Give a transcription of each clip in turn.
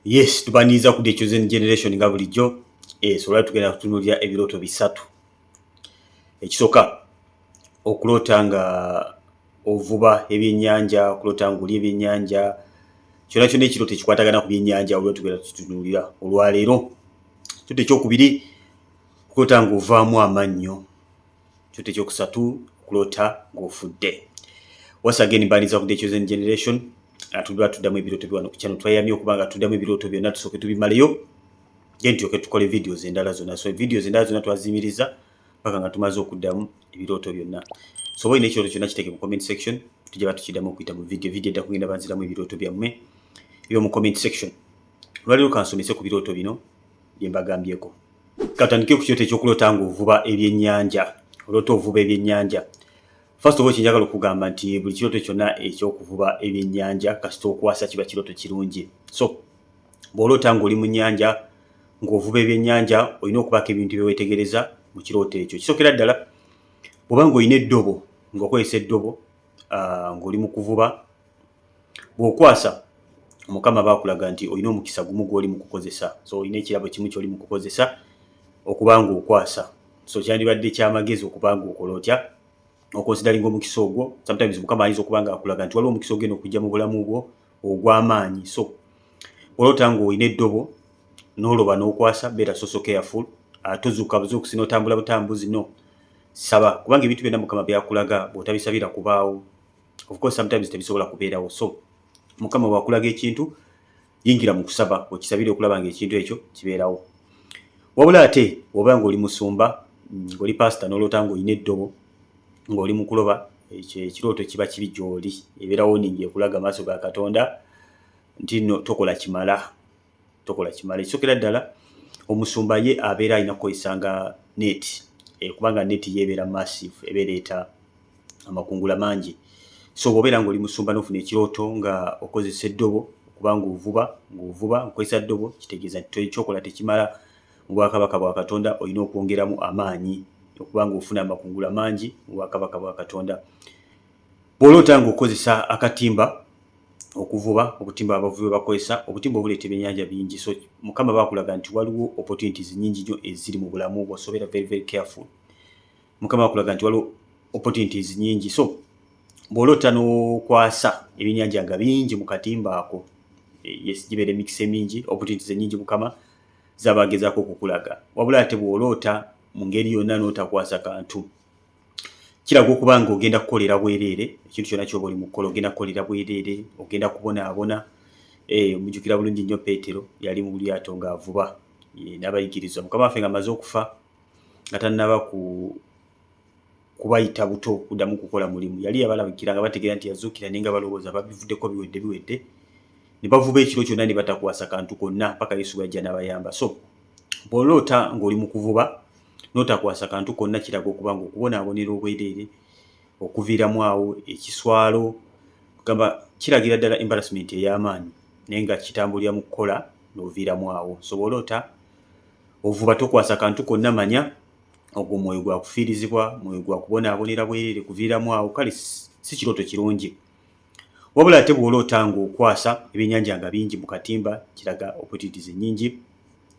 Yes, tubaniriza ku The Chosen Generation nga bulijjo. Eh, so lwali tugenda kutunuulira ebirooto bisatu. Ekisooka okuloota nga ovuba ebyennyanja, okuloota nga oli ebyennyanja, kyonna kyonna ekirooto ekikwatagana ku byennyanja olwo tugenda tutunuulira olwaleero. Ekirooto ekyokubiri okuloota nga ovaamu amannyo. ekyo tekyokusatu okulota ng'ofudde once again mbaniza ku the chosen generation atudwa tuddamu ebirooto biwano ku channel twayamye okuba nga tuddamu ebirooto byonna tusooke tubimaleyo then tulyoke tukole videos endala zonna so videos endala zonna twaziyimiriza paka nga tumaze okuddamu ebirooto byonna so oba olina ekirooto kyonna kiteeke mu comment section tujja batukiddamu okuyita mu video video edda kugenda banziramu ebirooto byammwe ebyo mu comment section lwaliro kansomese ku birooto bino bye mbagambyeko. Katandike ku kyoto ekyokulota nga ovuba ebyennyanja olota ovuba ebyennyanja first of all kyenjagala okugamba nti buli kiroto kyonna ekyokuvuba ebyennyanja kasita okwasa kiba kiroto kirungi so bw'olota ng'oli mu nnyanja ng'ovuba ebyennyanja olina okubaako ebintu byewetegereza mu kirooto ekyo kisokera ddala bw'oba ng'olina eddobo ng'okozesa eddobo ah, ng'oli mu kuvuba bwokwasa omukama bakulaga nti olina omukisa gumu gwoli mukukozesa so olina ekirabo kimu kyoli mukukozesa okubanga okwasa so kyandibadde kyamagezi okubanga okola otya okonsidalinga omukisa ogwo sometimes mukama ayinza okuba nga akulaga nti waliwo omukisa ogenda okujja mu bulamu bwo ogw'amaanyi so olota nga olina eddobo n'oloba n'okwasa beera soso careful ah, tozuuka buzuukusi n'otambula butambuzi no saba kubanga ebintu byonna mukama byakulaga bw'otabisabira kubaawo of course sometimes tebisobola kubeerawo so mukama wakulaga ekintu yingira mu kusaba okisabire okulaba nga ekintu ekyo kibeerawo wabula ate oba ngaoli musumba ngaoli pasita noloota ngaolina eddobo ngaoli mukuloba ekirooto kiba kibi gyoli ebeerawo ningi ekulaga maaso ga katonda nti no tokola kimala tokola kimala ekisokera ddala omusumba ye abeera alina kukozesa nga net eh, kubanga net ye ebeera massive eba ereeta amakungula mangi so bwobeera nga oli musumba nofuna ekirooto nga okozesa eddobo okuba ngaovuba ngaovuba nkukozesa ddobo kitegeeza nti ekyokola tekimala mu bwakabaka bwa katonda olina okwongeramu amaanyi okuba ngaofuna amakungula mangi mu bwakabaka bwa katonda Bw'oloota ng'okozesa akatimba okuvuba, obutimba abavubi bakozesa, obutimba obuleeta ebyennyanja bingi. So Mukama aba akulaga nti waliwo opportunities nnyingi nnyo eziri mu bulamu bwo, so beera very very careful. Mukama aba akulaga nti waliwo opportunities nnyingi. So bw'oloota n'okwasa ebyennyanja nga bingi mu katimba ako, eh, yes, gibeera emikisa emingi, opportunities ennyingi Mukama z'aba agezaako okukulaga. Wabula ate bw'oloota mu ngeri yonna n'otakwasa kantu, kiraga okuba nga ogenda kukolera bwereere ekintu kyona kyoba oli mukukola ogenda kukolera bwereere ogenda kubonaabona eh, mujukira bulungi nnyo peetero yali mu lyato ng'avuba eh, n'abayigirizwa mukama waffe nga amaze okufa nga tannaba ku kubayita buto kuddamu kukola mulimu yali yabalabikira nga bategeera nti yazuukira naye nga balowooza babivuddeko biwedde biwedde ne bavuba ekiro kyonna ne batakwasa kantu konna mpaka yesu bwajja n'abayamba so bw'oloota ng'oli mu kuvuba n'otakwasa kantu konna kiraga okuba nga okubonaabonera obwereere okuviiramu awo ekiswalo gamba kiragira ddala embarrassment ey'amaanyi naye nga kitambulira mu kukola n'oviiramu awo nsobole ota ovuba tokwasa kantu konna manya ogwo mwoyo gwa kufiirizibwa mwoyo gwa kubonaabonera bwereere kuviiramu awo kale si kirooto kirungi Wabula ate bw'oloota ng'okwasa ebyennyanja nga bingi mu katimba kiraga opportunities ennyingi.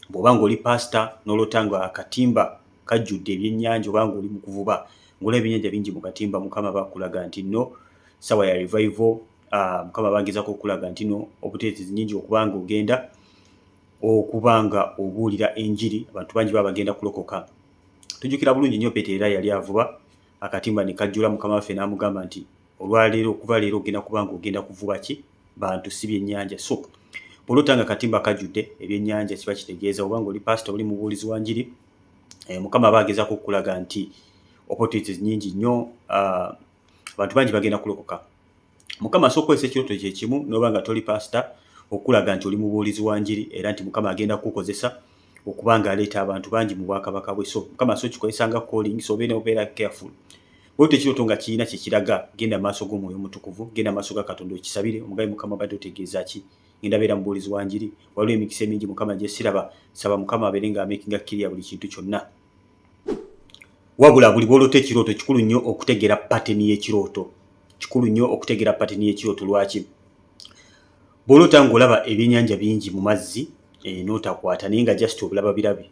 Bw'oba ng'oli paasita n'oloota nga akatimba kajjudde ebyennyanja oba ng'oli mu kuvuba ng'olaba ebyennyanja bingi mu katimba Mukama aba akulaga nti nno ssaawa ya revival, ah, Mukama aba agezaako okukulaga nti nno opportunities nnyingi okuba ng'ogenda okuba nga obuulira enjiri abantu bangi baba bagenda kulokoka. Tujjukira bulungi nnyo Peetero era yali avuba akatimba ne kajjula Mukama waffe n'amugamba nti olwaleero okuva leero ogenda kuba nga ogenda kuvuba ki bantu si byennyanja so bwolota nga katimba kajjudde ebyennyanja kiba kitegeeza oba nga oli pasita oli mubuulizi wa njiri eh, mukama aba agezaako okukulaga nti opportunities nyingi nnyo ah, abantu bangi bagenda kulokoka mukama asobola okukozesa ekirooto kyekimu noba nga toli pasita okulaga nti oli mubuulizi wa njiri era nti mukama agenda kukukozesa okuba nga aleeta abantu bangi mu bwakabaka bwe so mukama so kikozesa nga calling so obeera obeera careful bwetyo ekirooto nga kirina kyekiraga genda maaso g'omwoyo omutukuvu genda maaso ga katonda okisabire omugabi mukama badde otegeeza ki ngenda beera mubuulizi wa njiri waliwo emikisa emingi mukama gyesiraba saba mukama abeere nga amakinga kiriya buli kintu kyonna wabula buli bwolota ekirooto kikulu nnyo okutegeera pateni y'ekirooto kikulu nnyo okutegeera pateni y'ekirooto lwaki bw'oloota ng'olaba ebyennyanja bingi mu mazzi eh, n'otakwata naye nga just obulaba birabi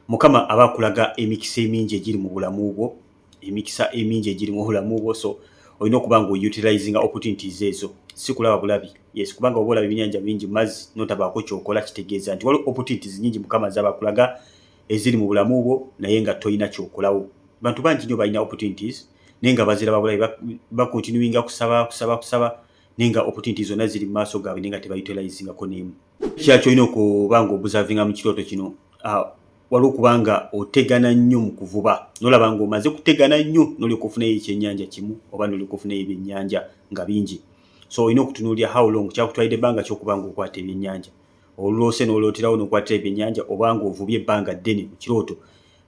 mukama aba akulaga emikisa emingi egiri mu bulamu bwo emikisa emingi egiri mu bulamu bwo so olina okuba nga outilizinga opportunities ezo si kulaba bulabi yes kubanga oba olaba ebyennyanja bingi mazzi n'otabaako kyokola kitegeeza nti waliwo opportunities nyingi mukama zaba akulaga eziri mu bulamu bwo naye nga tolina kyokolawo bantu bangi nyo balina opportunities naye nga baziraba bulabi bakontinuinga kusaba kusaba kusaba naye nga opportunity zonna ziri mu maaso gaabwe naye nga tebayutilizingako n'emu kya kyolina okuba nga obuzavinga mu kirooto kino ah, waliwo okuba nga otegana nnyo mu kuvuba nolaba nga omaze kutegana nnyo nolyoka ofunayo ekyennyanja kimu oba nolyoka ofunayo ebyennyanja nga bingi so olina okutunuulira how long kyakutwalidde ebbanga kyokuba nga okwata ebyennyanja oluloose nolooterawo nokwatira ebyennyanja oba nga ovubye ebbanga ddene mu kirooto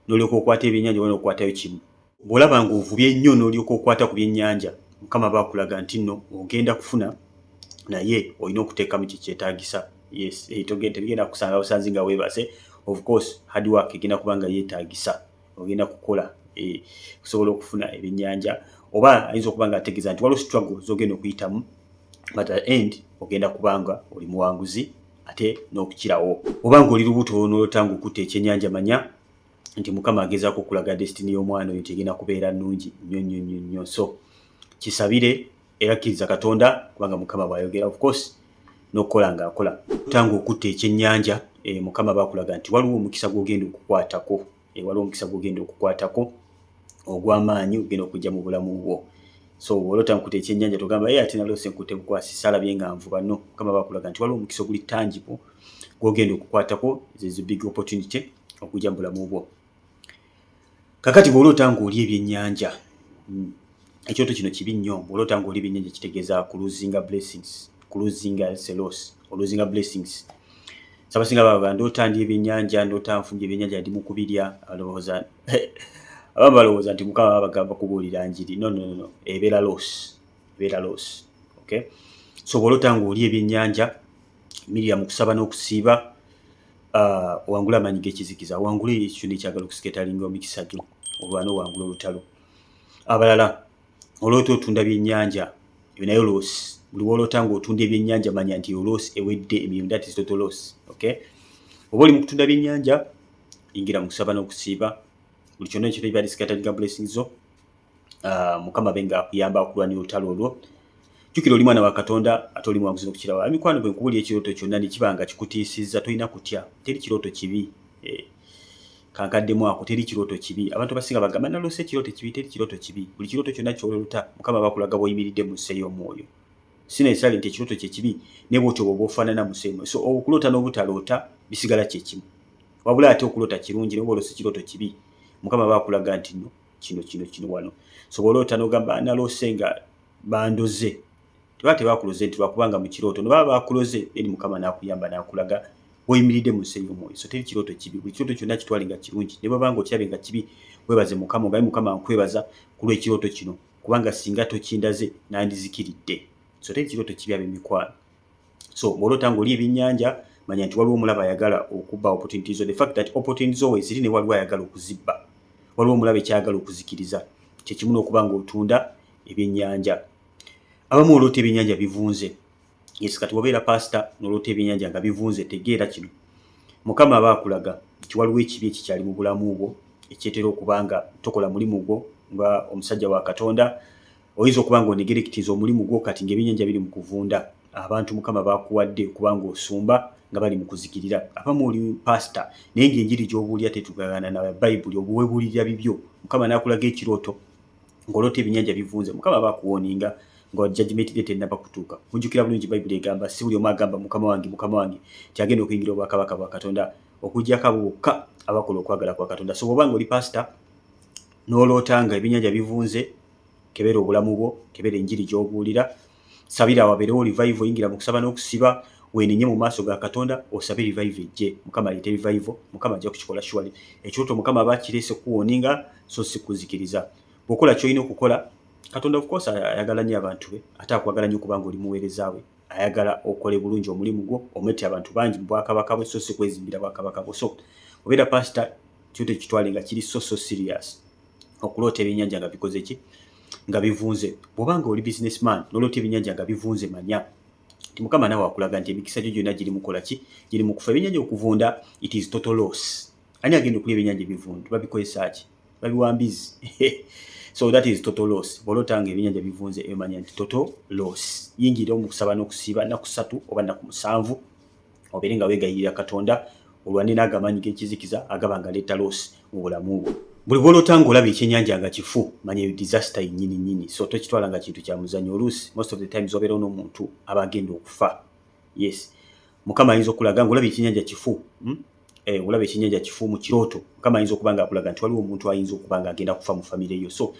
nolyoka okwata ebyennyanja oba nokwatayo kimu Bw'olaba ng'ovubye nnyo n'olyoka okwata ku byennyanja, Mukama aba akulaga nti nno ogenda kufuna naye olina okuteekamu kye kyetaagisa. Yes, eh, togenda tebigenda kusanga busanzi nga weebase. Of course, hard work egenda kuba nga yeetaagisa. Ogenda kukola eh, okusobola okufuna ebyennyanja. Oba ayinza okuba nga ategeeza nti waliwo struggle z'ogenda okuyitamu but at end ogenda kuba nga oli muwanguzi ate n'okukirawo. Oba ng'oli lubuto n'olota ng'okutte ekyennyanja manya nti mukama agezaako okulaga destiny y'omwana oyo nti egenda kubeera nnungi nnyo nnyo nnyo nnyo so kisabire era kkiriza katonda kubanga mukama bw'ayogera of course n'okukola ng'akola tanga okutta ekyennyanja e, mukama bakulaga nti waliwo omukisa gw'ogenda okukwatako e, waliwo omukisa gw'ogenda okukwatako ogw'amaanyi ogenda okujja mu bulamu bwo so olota nkute ekyennyanja togamba ye ati nalose nkute bukwasi salabye nga nvuba no mukama bakulaga nti waliwo omukisa oguli tangible gw'ogenda okukwatako zezi big opportunity okujja mu bulamu bwo kakati bw'oloota ng'oli ebyennyanja hmm, ekyoto kino kibi nnyo bw'oloota ng'oli ebyennyanja kitegeeza kuluzinga blessings kuluzinga selos oluzinga blessings sabasinga baba ndoota ndi ebyennyanja ndoota nfunja ebyennyanja ndi mu kubirya alowooza abamu balowooza nti mukama babagamba kubuulira njiri no no no ebeera los ebeera los okay so bw'oloota ng'oli ebyennyanja mirira mu kusaba n'okusiiba Ah, wangula amanyi gekizikiza wangula ekyo nekyagala okusiketalinga omikisa gyo olwana owangula olutalo abalala olota otunda byenyanja ebyo naye oloosi buli wolota nga otunda ebyenyanja manya nti oloosi ewedde emirimu that is total loss okay oba oli mukutunda byenyanja ingira mukusaba nokusiiba buli kyona ekyotaibadisikatalinga blessing zo ah, mukama be nga akuyamba okulwanya olutalo olwo jukira oli mwana wa katonda ate oli mwanguzi nokukirawo emikwano gwe nkubuli ekirooto kyonna nekiba nga kikutiisizza tolina kutya teri kirooto kibi eh, kankaddemu ako teri kirooto kibi abantu abasinga bagamba naloose ekirooto kibi teri kirooto kibi buli kirooto kyonna kyololuta mukama bakulaga boyimiridde mu nsi ey'omwoyo sinayisale nti ekirooto kyekibi naye bwotyo bwoba ofaanana mu nsi ey'omwoyo so okuloota n'obutaloota bisigala kyekimu wabula ate okuloota kirungi naye bwoloosa ekirooto kibi mukama bakulaga nti no kino kino kino wano so bwoloota nogamba naloose nga bandoze teba tebakuloze nti lwakubanga mu kirooto no baba bakuloze eri mukama nakuyamba nakulaga oyimiridde mu nsi ey'omwoyo so teri kirooto kibi buli kirooto kyonna kitwale nga kirungi ne bwabanga okirabye nga kibi webaze mukama ogaye mukama nkwebaza ku lw'ekirooto kino kubanga singa tokindaze nandizikiridde so teri kirooto kibi ab'emikwano so bwolota nga oli ebyenyanja manya nti waliwo omulaba ayagala okuba opportunity zo the fact that opportunity zo weziri ne waliwo ayagala okuzibba waliwo omulaba ekyayagala okuzikiriza kyekimu nokuba nga otunda ebyenyanja abamu olota ebyenyanja bivunze yes kati wabeera pastor nolota ebyenyanja nga bivunze tegeera kino mukama aba akulaga nti waliwo ekibi ekikyali mu bulamu bwo ekyetera okuba nga tokola mulimu gwo nga omusajja wa katonda oyinza okuba nga onegerekitiza omulimu gwo kati ng'ebyennyanja biri mu kuvunda abantu mukama bakuwadde okuba nga osumba nga bali mu kuzikirira abamu oli pasita naye ng'enjiri gy'obuulira tetugagana na bayibuli obuwebuulirira bibyo mukama n'akulaga ekirooto ng'oloota ebyennyanja bivunze mukama bakuwooninga nga jajimenti ge tennaba kutuuka mujjukira bulungi bayibuli egamba si buli omu agamba mukama wange mukama wange nti agenda okuyingira obwakabaka bwa katonda okuggyako abo bokka abakola okwagala kwa katonda so bwoba nga oli pasita n'oloota nga ebyennyanja bivunze kebera obulamu bwo kebera enjiri gy'obuulira sabira wabeerewo revival yingira mu kusaba n'okusiba wenenye mu maaso ga katonda osabe revive ejje mukama aleete revive mukama ajja kukikola shuwali ekyoto mukama aba akireese kuwoninga so si kuzikiriza bwokola kyolina okukola katonda ofcourse ayagala nnyo abantu be ate akwagala nnyo kubanga oli muweereza we ayagala okole bulungi omulimu gwo omwete abantu bangi mu bwakabaka bwe so si kwezimbira bwakabaka bwo so obeera pasita kyo tekitwale nga kiri so so serious okuloota ebyennyanja nga bikoze ki nga bivunze bwoba nga oli business man noloota ebyennyanja nga bivunze manya ti mukama nawe akulaga nti emikisa gyo gyonna giri mukola ki giri mu kufa ebyennyanja okuvunda it is total loss ani agenda okulya ebyennyanja ebivundu babikozesa ki babiwa mbizi so that is total loss bwoloota nga ebyennyanja bivunze emanya nti total loss yingira omukusaba n'okusiiba naku satu oba naku musanvu obeere nga wegayirira katonda olwanira ago amaanyi g'ekizikiza agaba nga leeta loosi mu bulamu bwo buli gwolota nga olaba ekyenyanja nga kifu manya eyo disaster yenyini nyini so tokitwala nga kintu kya muzanyo oluusi most of the times obeera onomuntu aba agenda okufa yes mukama ayinza okulaga nga olaba ekyenyanja kifu hmm? eh, olaba ekyenyanja kifu mu kirooto mukama ayinza okuba nga akulaga nti waliwo omuntu ayinza okuba nga agenda kufa mu famire yo so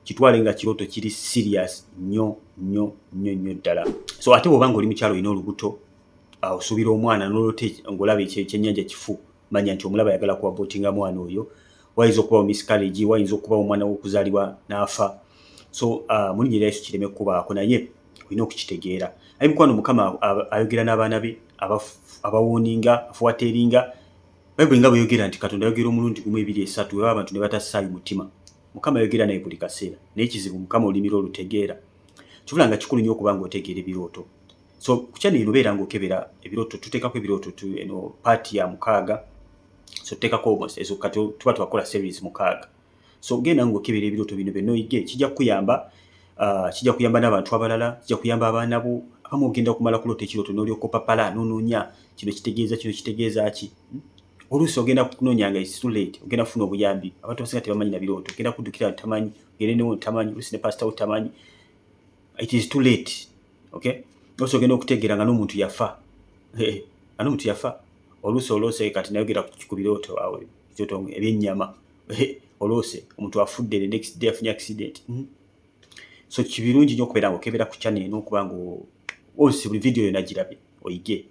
kitwale nga kirooto kiri serious nyo nyo nyo nyo ddala so ate bwoba nga oli mukyalo olina olubuto awo subira omwana nolote ngolaba ekyenyanja kifu manya nti omulaba ayagala kuwa botinga mwana oyo wayinza okubawo miscarriage wayinza okubawo omwana wokuzalibwa naafa so uh, mulinya era yesu kireme kubaako naye olina okukitegeera aye mukwano mukama ayogera n'abaana be abawooninga afuwateeringa bayibuli nga bweyogera nti katonda ayogera omulundi gumu ebiri esatu eba abantu ne batassaayo mutima mukama ayogera naye buli kaseera naye kizibu mukama olimira olutegeera kibula nga kikulu nyo okuba nga otegeera ebirooto so kukya nino beera nga okebera ebiroto tutekako ebiroto tu eno paati ya mukaaga so tutekako almost ezo kati tuba twakola series mukaaga so genda nga okebera ebiroto bino byonna oyige kijja kukuyamba uh, kijja kuyamba n'abantu abalala kijja kuyamba abaana bo abamu ogenda okumala kulota ekiroto n'olyokopapala nononya kino kitegeeza kino kitegeeza ki hmm? oluusi ogenda kunonya nga isulate ogenda kufuna obuyambi abantu basinga tebamanyi na birooto ogenda kuddukira ntamanyi gerenewo ntamanyi oluusi ne pasitawo tamanyi it is too late okay oluusi ogenda okutegeera nga n'omuntu yafa nga n'omuntu yafa oluusi oloose kati nayogera ku birooto awo kyoto ebyennyama oloose omuntu afudde the next day afunye accident hmm? so kibirungi nyo okubeera nga okebeera ku channel eno okuba nga ose buli video yona girabye oyige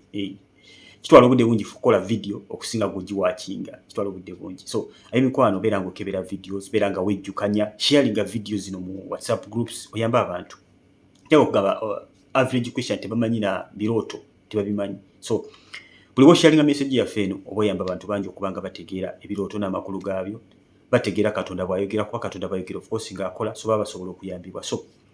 kitwala obudde bungi kukola video okusinga gwegiwakinga kitwala obudde bungi so aye mikwano beera nga okebera videos beera nga wejjukanya sharinga video zino mu whatsapp groups oyamba abantu teba okugamba uh, average question tebamanyi na birooto tebabimanyi so buli bwosharinga message yaffe eno oba oyamba abantu bangi okuba nga bategeera ebirooto n'amakulu gaabyo bategeera katonda bwayogera kuba katonda bayogera ofcourse ngaakola so baba basobola okuyambibwa so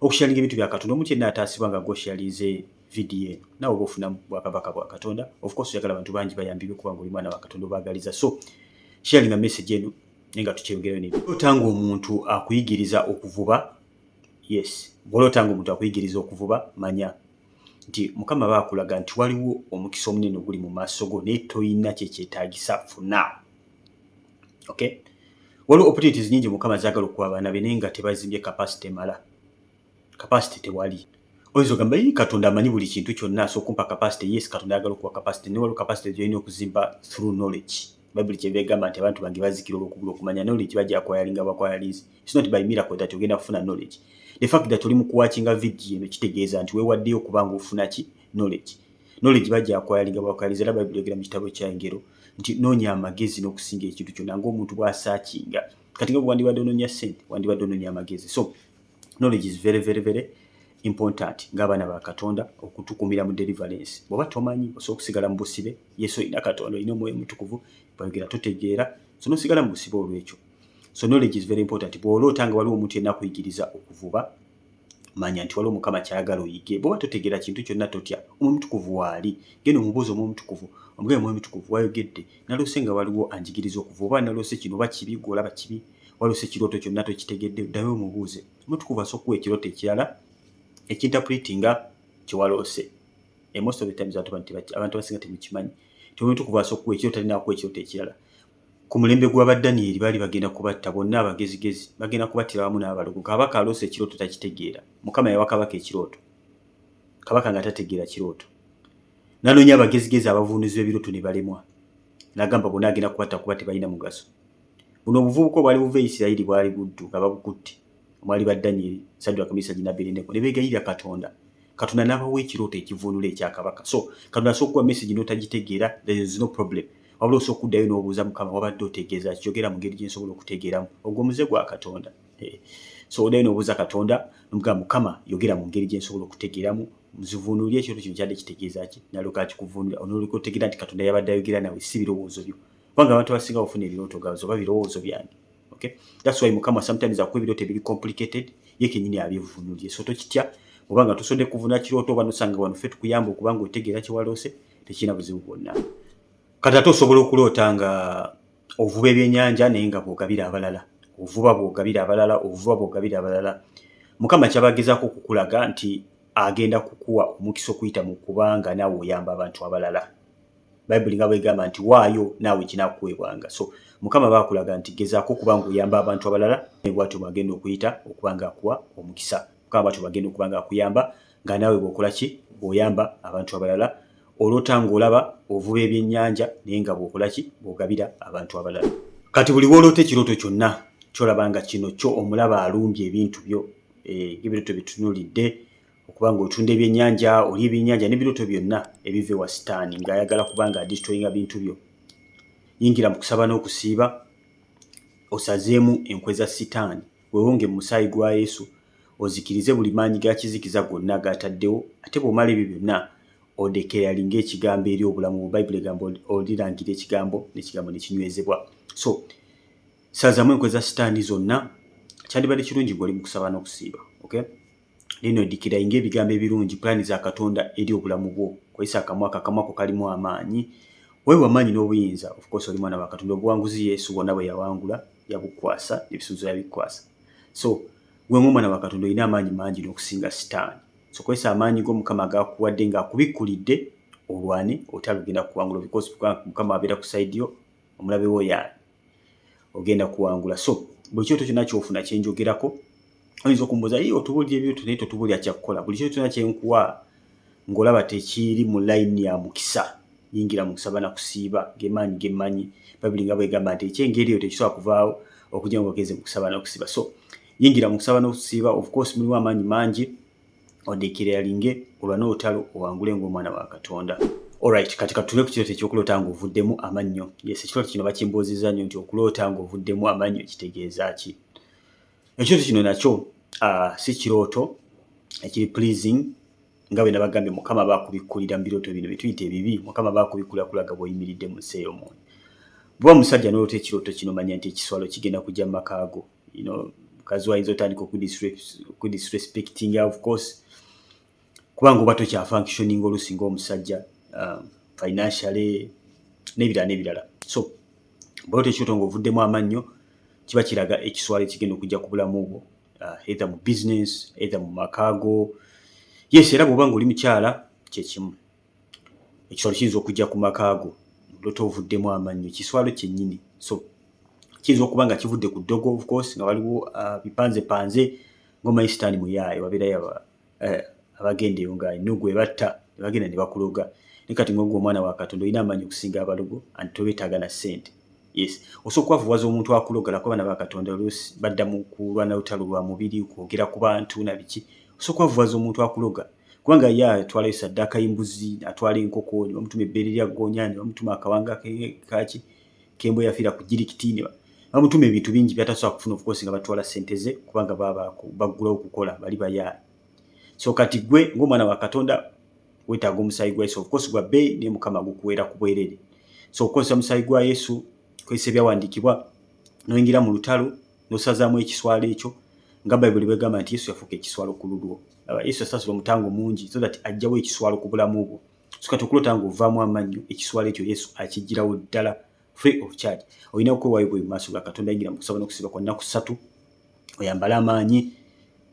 okusharinga ebintu bya katonda omu kyenna ataasibwa nga gwosharinze vidiyo eno nawe oba ofuna bwakabaka bwa katonda ofcourse oyagala abantu bangi bayambibwe kuba nga oli mwana wa katonda obaagaliza so sharinga message eno naye nga tukyeyogerayo ne ota nga omuntu akuyigiriza okuvuba yes bwolota nga omuntu akuyigiriza okuvuba manya nti mukama baakulaga nti waliwo omukisa omunene oguli mu maaso go naye tolina kyekyetaagisa funa okay waliwo opportunities nyingi mukama zagala okuwa abaana be naye nga tebazimbye capacity emala capacity tewali oyinza ogamba yi katonda amanyi buli kintu kyonna asobola okumpa capacity yes katonda ayagala okuwa capacity naye waliwo capacity gyolina okuzimba through knowledge bayibuli kyeva egamba nti abantu bange bazikira olwokugula okumanya knowledge bajja kwayalinga bakwayalinzi its not by miracle that ogenda kufuna knowledge the fact that oli mukuwakinga vidiyo eno kitegeeza nti wewaddeyo okuba nga ofuna ki knowledge knowledge bajja kwayaliga bakwayaliza era bayibuli yogera mu kitabo kya engero nti noonya amagezi n'okusinga ekintu kyonna ng'omuntu bw'asaakinga kati nga wandibadde onoonya ssente wandibadde onoonya amagezi so knowledge is very very very important ng'abaana ba katonda okutukumira mu deliverance bw'oba tomanyi osobola okusigala mu busibe yesu olina katonda olina omwoyo omutukuvu bayogera totegeera so n'osigala mu busibe olw'ekyo so knowledge is very important bw'oloota nga waliwo omuntu yenna kuyigiriza okuvuba manya nti waliwo mukama kyayagala oyige bwoba totegera kintu kyonna totya omwomutukuvu waali genda omubuuza omwomutukuvu omugee omwomutukuvu wayogedde naloose nga waliwo anjigiriza okuva oba naloose kino oba kibi gweolaba kibi waloose ekirooto kyonna tokitegedde ddayo omubuuze omutukuvu asokuwa ekirooto ekirala ekintapuliiti nga kyewaloose emosto betabiza abantu basinga temukimanyi ti omwomutukuvu asokuwa ekirooto alinakuwa ekirooto ekirala Ku mulembe gwa ba Danyeri baali bagenda kubatta bonna abagezigezi, bagenda kubattira wamu n'abalogo. Kabaka aloose ekirooto takitegeera. Mukama yawa kabaka ekirooto. Kabaka nga tategeera kirooto. Nanoonya abagezigezi abavunuzi b'ebirooto ne balemwa. Nagamba bonna agenda kubatta kuba tebalina mugaso. Buno obuvubuka obwali buva e Isirayiri bwali buddu nga babukutte. omwali ba Danyeri, Saddwaka, Mesaki ne Abedenego ne beegayirira Katonda, Katonda n'abawa ekirooto ekivvuunula ekya kabaka. So Katonda asobola okuwa mesegi n'otagitegeera, there is no problem. Wabula osobola okuddayo n'obuuza Mukama, wabadde otegeeza ki? Yogera mu ngeri gye nsobola okutegeeramu. Ogwo omuze gwa Katonda. Eh, so oddayo n'obuuza Katonda nomugamba Mukama, yogera mu ngeri gye nsobola okutegeeramu nzivuunulire ekirooto kino kyadde kitegeeza ki? Nalyoka akikuvuunulira onoolyoka otegeera nti Katonda yabadde ayogera nawe, si birowoozo byo. Kubanga abantu abasinga bafuna ebirooto gazo oba birowoozo byange. okay that's why mukama sometimes akuwa ebirooto ebiri complicated ye kenyini abivunulye so tokitya obanga tosodde kuvuna kirooto oba nosanga wano ffe tukuyamba okubanga otegeera kyewaloose tekirina buzibu bwonna kati ate osobola okuloota nga ovuba ebyenyanja naye nga bwogabira abalala ovuba bwogabira abalala ovuba bwogabira abalala mukama kyabagezaako okukulaga nti agenda kukuwa omukisa okuyita mu kubanga naawe oyamba abantu abalala bayibuli nga bwegamba nti waayo naawe kinakuweebwanga so mukama bakulaga nti gezaako okuba nga oyamba abantu abalala nebwatyo bwagenda okuyita okuba nga akuwa omukisa mukama bwatyo bwagenda okuba nga akuyamba nga naawe bwokola ki bwoyamba abantu abalala olota ngaolaba ovuba ebyennyanja naye nga bwokola ki bwogabira abantu abalala kati buli woloota ekirooto kyonna kyolaba nga kino kyo omulaba alumbye ebintu byo eh, ebirooto byetunulidde okuba nga otunda ebyennyanja oli ebyennyanja n'ebirooto byonna ebiva ewa sitaani ng'ayagala kuba nga adisitoyinga bintu byo yingira mu kusaba n'okusiiba osazeemu enkwe za sitaani wewonge mu musaayi gwa yesu ozikirize buli maanyi ga kizikiza gonna gaataddewo ate bw'omala ebyo byonna odekerali ng'ekigambo eri obulamu mu bayibuli egamba olirangira ekigambo n'ekigambo ne kinywezebwa so sazamu enkwe za sitaani zonna kyandibadde kirungi ng'oli mu kusaba n'okusiiba okay Lino ddikira inga ebigambo ebirungi, pulaani za Katonda eri obulamu bwo. Kozesa akamwa ko, akamwa ko kalimu amaanyi. Weewe amaanyi n'obuyinza. Of course oli mwana wa Katonda. Obuwanguzi Yesu bwonna bwe yawangula yabukukwasa, n'ebisuubizo yabikukwasa. So, gwe ng'omwana wa Katonda olina amaanyi mangi n'okusinga Sitaani. So, kozesa amaanyi go Mukama g'akuwadde ng'akubikkulidde olwane olutalo lugenda kuwangulwa because Mukama abeera ku side yo, omulabe wo y'ani? ogenda kuwangula so buli kyoto kyona kyofuna kyenjogerako oyinza okumbuza yi otubulira ebyoto naye totubulira kyakukola buli kyoto kyona kyenkuwa ngaolaba tekiiri mu layini ya mukisa yingira mukisa bana kusiiba gemaanyi gemmanyi babiri nga bwegamba nti ekyengeri eyo tekisobola kuvaawo okujja ngaogeze mukusaba nokusiba so yingira mukusaba nokusiiba of course mulimu amaanyi mangi odekereyalinge olwane olutalo owangule ng'omwana wa katonda Alright, kati katunule ku kirooto eky'okuloota ng'ovuddemu amannyo. Yes, ekirooto kino bakimbuuzizza nnyo nti okuloota ng'ovuddemu amannyo kitegeeza ki? Ekirooto kino nakyo uh, si kirooto ekiri pleasing nga bwe nabagambye mukama aba akubikkulira mu birooto bino byetuyita ebibi mukama aba akubikkulira kulaga bw'oyimiridde mu nsi ey'omwoyo. Bw'oba musajja n'oloota ekirooto kino manya nti ekiswalo kigenda kujja mu makaago. you know mukazi wayinza otandika okudisrespectinga of course kubanga oba tokyafunctioning oluusi ngaomusajja um, financially n'ebirala n'ebirala so bweo tekyoto nga ovuddemu amannyo kiba kiraga ekiswala ekigenda okujja ku bulamu bwo uh, either mu business either mu makaago yes era bwoba nga oli mukyala kyekimu ekiswalo kiyinza okujja ku maka go lota ovuddemu amannyo kiswalo kyennyini so kiyinza okuba nga kivudde ku ddogo of course nga waliwo uh, bipanze panze ngomanyi sitaani muyaaye wabeerayo eh, abagenda eyo nga enugu ebatta nebagenda ne bakuloga ne kati ngogwa omwana wa katonda olina amaanyi okusinga abalogo anti tobetaaga na ssente yes osobola okubavuwaza omuntu akulogala kuba naba katonda oluusi badda mu kulwana lutalo lwa mubiri kwogera ku bantu na biki osobola okubavuwaza omuntu akuloga kubanga ye atwalayo saddaaka y'embuzi atwala enkoko ne bamutuma ebbeere lya ggoonya ne bamutuma akawanga kaki kembo yafiira ku jirikiti ne bamutuma ebintu bingi byatasobola kufuna ofukoosi nga batwala ssente ze kubanga baba baggulawo okukola bali bayaali so kati gwe ng'omwana wa katonda weetaaga omusaayi gwa yesu ofukoosi gwa bbeeyi naye mukama gukuweera ku bwerere so okukozesa omusaayi gwa yesu kozesa ebyawandiikibwa noyingira mu lutalo nosazaamu ekiswalo ekyo nga bayibuli bwegamba nti yesu yafuuka ekiswalo ku lulwo aba yesu yasasula omutango mungi so that ajjawo ekiswalo ku bulamu bwo so kati okulota nga ovaamu amannyo ekiswalo ekyo yesu akijjirawo ddala free of charge olina okwewayo bwe maaso ga katonda yingira mukusaba nokusiba kwa nnaku ssatu oyambale amaanyi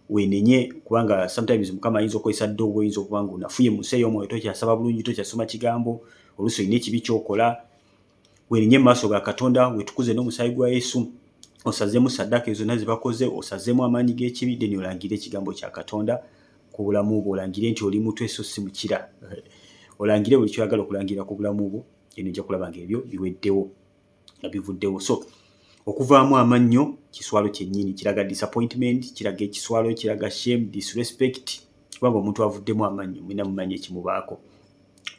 wenenye kubanga sometimes mukama ayinza okukozesa ddoogo oyinza okuba nga onafuye mu nsi ey'omwoyo tokyasaba bulungi tokyasoma kigambo oluusi olina ekibi kyokola werinye maaso ga katonda wetukuze n'omusaayi gwa yesu osazemu saddaka ezo zonna zebakoze osazemu amaanyi g'ekibi deni olangire ekigambo kya katonda ku bulamu bwo olangire nti oli mutwe so si mukira olangire buli kyoyagala okulangira ku bulamu bwo eno ojja kulaba nga ebyo biweddewo nga bivuddewo so okuvaamu amannyo kiswalo kyennyini kiraga disappointment kiraga ekiswalo kiraga shame disrespect kubanga omuntu avuddemu amannyo mulina mumanyi ekimubaako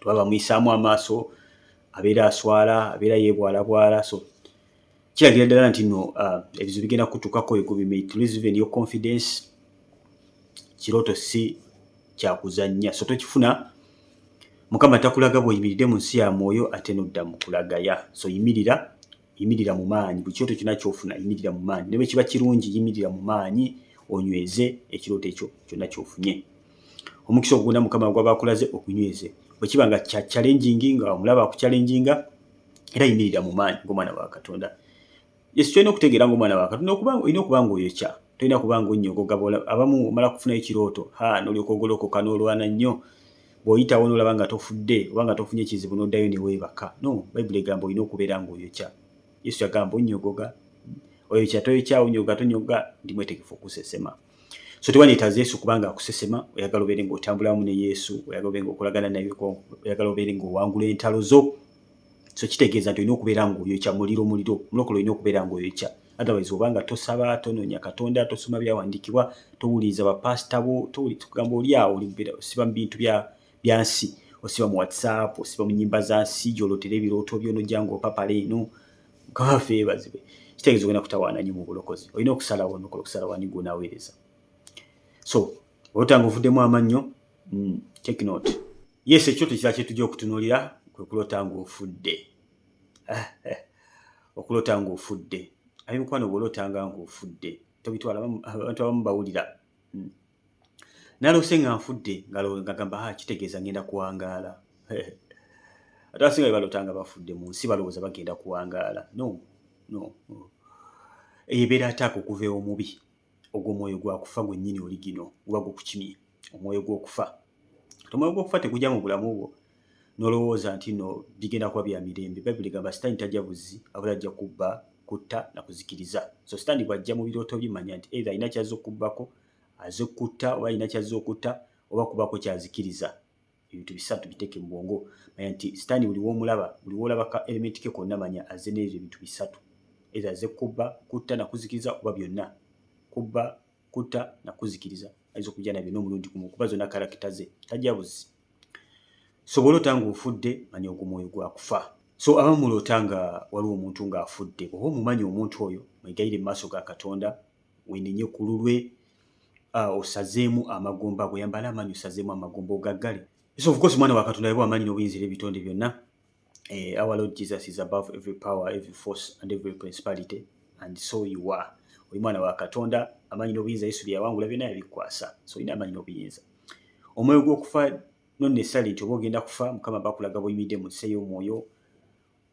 tuba bamuyisaamu amaaso abeera aswala abeera yebwalabwala so kiragira ddala nti no uh, ebizibu bigenda kutukako ekubimaitlsven yo confidence kirooto si kyakuzannya so tokifuna mukama takulaga bweyimiride mu nsi ya mwoyo ate nodda mukulagaya so yimirira yimirira mu maanyi buli kirooto kyonna kyofuna yimirira mu maanyi ne bwe kiba kirungi yimirira mu maanyi onyweze ekirooto ekyo kyonna kyofunye omukisa ogugunda mukama gwaba akulaze okunyweze bwe kiba nga kya challengingi nga omulaba akuchallenginga era yimirira mu maanyi ng'omwana wa katonda yesu kyolina okutegeera ng'omwana wa katonda olina okuba nga oyokya tolina kuba nga onnyogoga abamu omala kufunayo ekirooto ha nolyoka ogolokoka n'olwana nnyo bw'oyitawo n'olaba nga tofudde oba nga tofunye kizibu n'oddayo ne weebaka no bayibuli egamba olina okubeera ng'oyokya yesu yagamba onnyogoga oyokya toyokya onyoga tonyoga ndi mwetegefu okusesema so tewanyeetaza yesu kubanga akusesema oyagala obeere ng'otambulamu ne yesu oyagala obeere ng'okolagana naye oyagala obeere ng'owangula entalo zo so kitegeeza nti olina okubeera ngaoyokya muliro muliro mulokole olina okubeera ngaoyokya otherwise obanga tosaba tononya katonda tosoma byawandikibwa towuliriza bapasita bo towulikugamba oli awo olibeera osiba mu bintu byansi osiba mu whatsapp osiba mu nyimba za nsi gyolotera ebirooto byonojja ngaopapala eno gavafe ebazibe kitegeeza ogenda kutawaana nyo mu bulokozi olina okusalawo nokola okusalawo ani gwonaweereza so otanga ovuddemu amannyo mm, take note yes ekyoto kira kyetujja okutunulira kwekulota nga ofudde okulota nga ofudde ayi mukwano bwolotanga nga ofudde tobitwala abantu abamu bawulira mm. nalose nga nfudde ngagamba ah, kitegeeza ngenda kuwangaala ate asinga bebalota nga bafudde mu nsi balowooza bagenda kuwangaala no no eyo ebeera ataaka okuva omubi ogwo omwoyo gwa kufa gwennyini oli gino guba gukukimye omwoyo gw'okufa omwoyo gw'okufa tegujja mu bulamu bwo nolowooza nti no bigenda kuba bya mirembe bayibuli egamba sitaani tajja buzzi abula ajja kubba kutta na kuzikiriza so sitaani bw'ajja mu birooto bye manya nti either alina kyazza okubbako aze kutta oba alina kyazza okutta oba kubako kyazikiriza ebintu bisatu biteeke mu bwongo manya nti sitaani buli w'omulaba buli w'olaba ka elementi ke konna manya azze n'ebyo ebintu bisatu either azze kubba kutta na kuzikiriza oba byonna kubba kutta na kuzikiriza ayinza okujja nabyo n'omulundi gumu kuba zonna karakita ze tajja buzzi so bw'oloota nga ofudde manya ogwo mwoyo gwakufa so abamu muloota nga waliwo omuntu ng'afudde oba omumanyi omuntu oyo mwegayire mu maaso ga katonda wenenye ku lulwe osazeemu amagumba ago yambala amaanyi osazeemu amagumba ogaggale so of course mwana wa katonda yabwa amaanyi n'obuyinza era ebitonde byonna eh, our lord jesus is above every power every force and every principality and so you are oli mwana wa katonda amaanyi n'obuyinza yesu byeyawangula byonna yabikwasa so olina amaanyi n'obuyinza omwoyo gw'okufa nonnesali nti oba ogenda kufa mukama bakulaga buyimidde mu nsi ey'omwoyo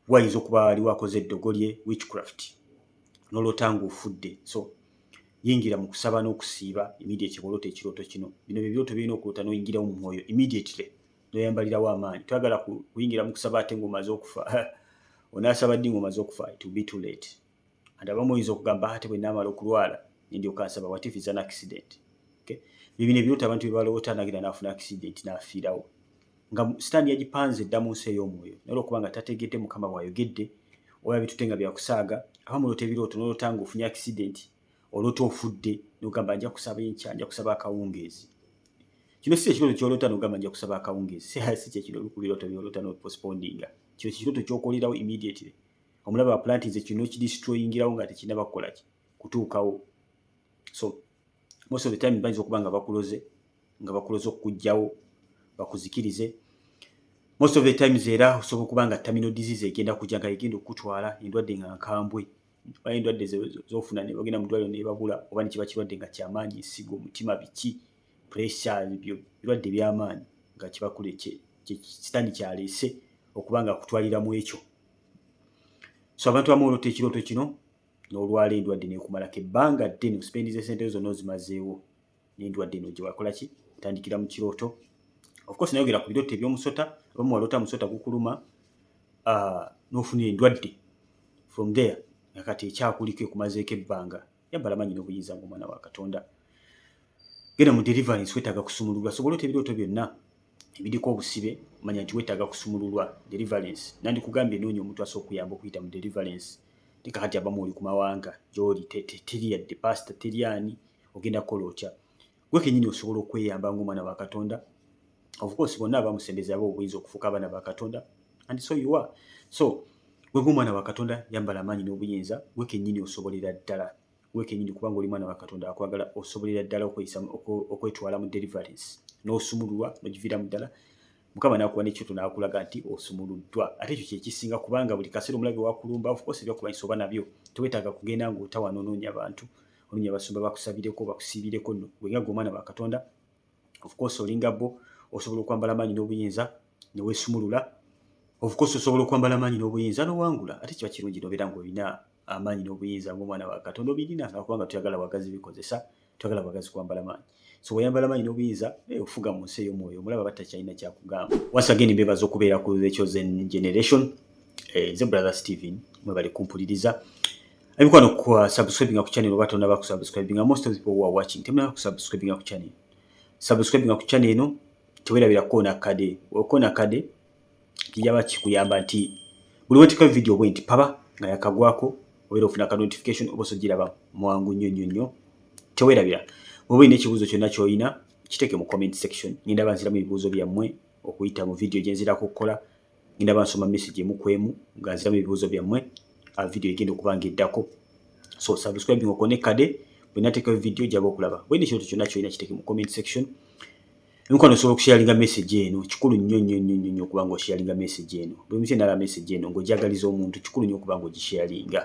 wayinza okuba waliwo akoze eddogo lye witchcraft noloota nga ofudde so yingira mu kusaba n'okusiiba immediately bwoloota ekirooto kino bino bye birooto birina okuloota n'oyingirawo mu mwoyo immediately noyambalirawo amaanyi twagala kuyingira mu kusaba ate ng'omaze okufa onaasaba ddi ng'omaze okufa it will be too late and abamu oyinza okugamba ate bwe naamala okulwala nendyoka nsaba what if it's an accident okay? bibino ebirota abantu bebaloota nagenda naafuna accident naafiirawo nga sitaani yagipanze dda mu nsi ey'omwoyo naye olwokuba nga tategedde mukama bwayogedde oba bitute nga byakusaaga aba muloota ebirooto noloota nga ofunye accident oloota ofudde nogamba nja kusaba enkya nja kusaba akawungeezi kino si ekirooto kyoloota nogamba nja kusaba akawungeezi si kyekino olukubirooto byoloota nopospondinga kino kikirooto kyokolerawo immediately omulaba wa planti nze kino kidistroyingirawo nga tekirina bakukola ki kutuukawo so most of the time bayinza okuba nga bakuloze nga bakuloze okukugjawo bakuzikirize most of the times era osobola okuba nga terminal disease egenda kujja nga egenda okukutwala endwadde nga nkambwe oba endwadde zofuna nebagenda mudwaliro nebabula oba nekiba kirwadde nga kyamaanyi nsigo omutima biki pressure byo birwadde byamaanyi nga kibakule sitaani kyaleese okuba nga akutwalira mu ekyo so abantu abamu olota ekirooto kino n'olwala endwadde nekumalako ebbanga ddene kuspendiza esente zo zonna ozimazeewo n'endwadde eno gye wakola ki otandikira mu kirooto ofcourse nayogera ku birooto eby'omusota abamu walota musota gukuluma ah, n'ofuna endwadde from there nga kati ekyakuliko ekumazeeko ebbanga yambala manyi n'obuyinza nga omwana wa katonda genda mu deliverance wetaaga kusumululwa sobola ota ebirooto byonna ebiriko obusibe manya nti wetaaga kusumululwa deliverance nandikugambye noonya omuntu asobola okuyamba okuyita mu deliverance leka kati abamu oli ku mawanga gyoli teri yadde pasita teri ani ogenda kukola otya gwe kenyini osobola okweyamba ngaomwana wa katonda ofcourse bonna abamusembeza aba obuyinza okufuuka abaana ba katonda and so you are so gwe ngaomwana wa katonda yambala amaanyi n'obuyinza gwe kenyini osobolera ddala gwe kenyini kubanga oli mwana wa katonda akwagala osobolera ddala okwetwala mu deliverance n'osumululwa nogiviiramu ddala mukama nakuba nekyoto nakulaga nti osumuluddwa ate ekyo kyekisinga kubanga buli kaseera omulabi wakulumba ofcourse ebyakulwanyisa oba nabyo tewetaaga kugenda ngaotawanonoonya bantu olunya basumba bakusabireko bakusibireko no wenga gomana wa katonda of course olinga bo osobola okwambala manyi n'obuyinza ne wesumulula of course osobola okwambala manyi n'obuyinza no wangula ate kiba kirungi no bera ngolina amanyi n'obuyinza ng'omwana wa katonda obirina nga kubanga tuyagala bagazi bikozesa tuyagala bagazi kwambala manyi so wayambala manyi nobuyinza eh, okufuga mu nsi ey'omwoyo omulaba batta kyalina kyakugamba once again mbebaza okubeera ku the chosen generation eh, nze brother steven mwebale kumpuliriza abikwano ku subscribing ku channel oba tonaba ku subscribing most of the people who are watching temunaba ku subscribing ku channel subscribing ku channel eno tewerabira koona kade okona kade kijaba kikuyamba nti buli wetika video bwe nti paba nga yakagwako obeera ofuna ka notification oba osogiraba mwangu nnyo nnyo nnyo tewerabira oba olina ekibuuzo kyonna kyolina kiteeke mu comment section ngenda banziramu ebibuuzo byammwe okuyita mu video gyenzirako okukola ngenda bansoma message emu kwemu nga nziramu ebibuuzo byammwe a video egenda okuba nga eddako so subscribing okone kade bwenateekayo video jaba okulaba bwene ekintu kyonna kyolina kiteeke mu comment section Nkuba nosobola okusharinga message eno kikulu nnyo nnyo nnyo nnyo okuba nga osharinga message eno buli muntu yenna alaba message eno ng'ojagaliza omuntu kikulu nnyo okuba nga ogisharinga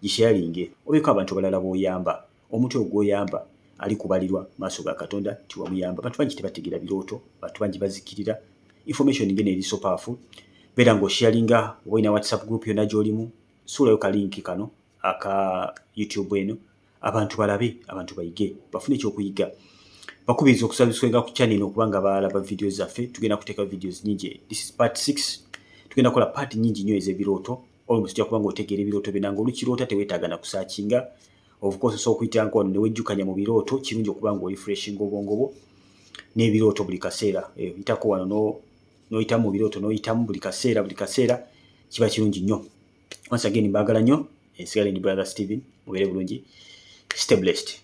gisharinge obeeko abantu abalala b'oyamba omuntu oyo gw'oyamba ali kubalirwa maaso ga katonda nti wamuyamba abantu bangi tebategeera birooto bantu bangi bazikirira information ngeno eri so powerful beera ng'osharinga oba olina whatsapp group yonna gy'olimu suulayo kalinki kano aka youtube eno abantu balabe abantu bayige bafune ekyokuyiga bakubiriza okusabiswenga ku chanel okubanga balaba vidiyo zaffe tugenda kuteeka vidiyo nyingi this is part 6 tugenda kola part nyingi nyo ezebirooto olwo tujja kubanga otegeera ebirooto byo nange olukiroota tewetaaga na kusakinga obukozesa okuyitanga wano newejjukanya mu birooto kirungi okuba nga oli freshinga obwongo bwo n'ebirooto buli kaseera eh, yitako wano n'oyitamu mu birooto n'oyitamu buli kaseera buli kaseera kiba kirungi nnyo once again mbagala nyo ensigala ndi brother steven mubere bulungi stay blessed